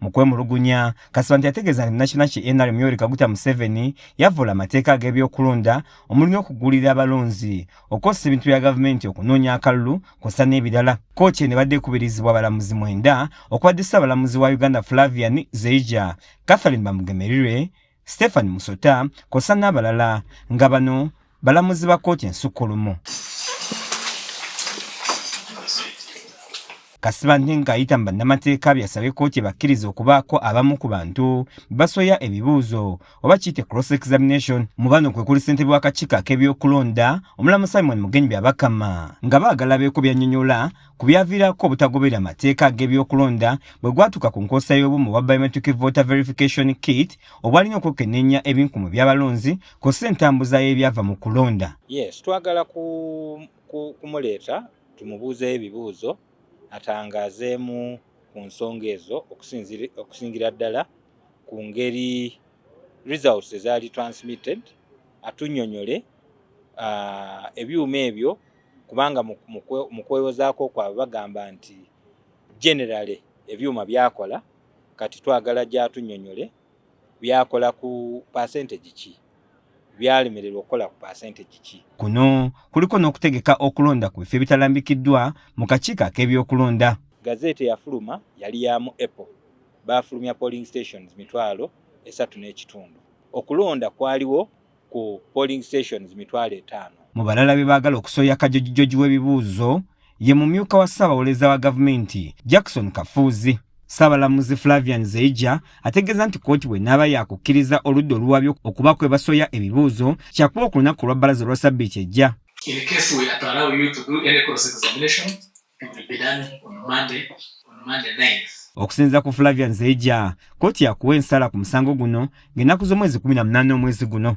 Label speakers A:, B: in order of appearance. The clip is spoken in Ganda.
A: Mu kwemulugunya, Kasibante yategeeza nti nakiina ki NRM Yoweri Kaguta Museveni yavvoola amateeka ag'ebyokulonda omuli n'okuggulirira abalonzi, okukozesa ebintu bya gavumenti okunoonya akalulu kw'ossa n'ebirala. Kkooti eno ebadde ekubirizibwa abalamuzi mwenda okubadde Ssaabalamuzi wa Uganda Flavian Zeija, Catherine Bamugemerirwe, Stephen Musota kosa n'abalala nga bano balamuzi ba kkooti ensukkulumu. Kasibante ng'ayita mu bannamateeka byasabye kkooti ebakkiriza okubaako abamu ku bantu basoya ebibuuzo oba kiyite cross examination mu bano kwe kuli ssentebe w'akakiiko ak'ebyokulonda omulamu Simon Mugenyi Byabakama nga baagala beeko by'annyonnyola ku byaviirako obutagoberera mateeka ag'ebyokulonda bwe gwatuuka ku nkozesa y'obumu bwa biometric voter verification kit obwalina okwekenneenya ebinkumu by'abalonzi kw'ossa entambuza y'ebyava mu kulonda yes twagala
B: kumuleeta tumubuuzeyo ebibuuzo atangaazeemu ku nsonga ezo okusingira ddala ku ngeri results ezaali transmitted atunyonyole uh, ebyuma ebyo kubanga mu kwewozaako kwabwe bagamba nti generale ebyuma byakola kati twagala gyatunyonyole byakola ku percentage ki byalemererwa okukola ku percentage ki kuno kuliko
A: n'okutegeka okulonda ku bifo ebitalambikiddwa mu kakiiko ak'ebyokulonda gazeeti eyafuluma
B: yali ya mu apple baafulumya polling stations mitwalo esatu n'ekitundu okulonda kwaliwo ku polling stations mitwalo etaano. Mu balala be baagala
A: okusoya kajojijoji w'ebibuuzo ye mumyuka wa ssaabawoleza wa gavumenti Jackson Kafuuzi. Ssaabalamuzi Flavian Zeija ategeeza nti kkooti bw'enaaba yaakukkiriza oludda oluwaabi okuba kwe basoya ebibuuzo kyakuba olunaku olwa bbalaza olwa ssabbiiti ejja. Okusinziira ku Flavian Zeija, kkooti yakuwa ensala ku musango guno ng'ennaku z'omwezi kumi na munaana omwezi guno.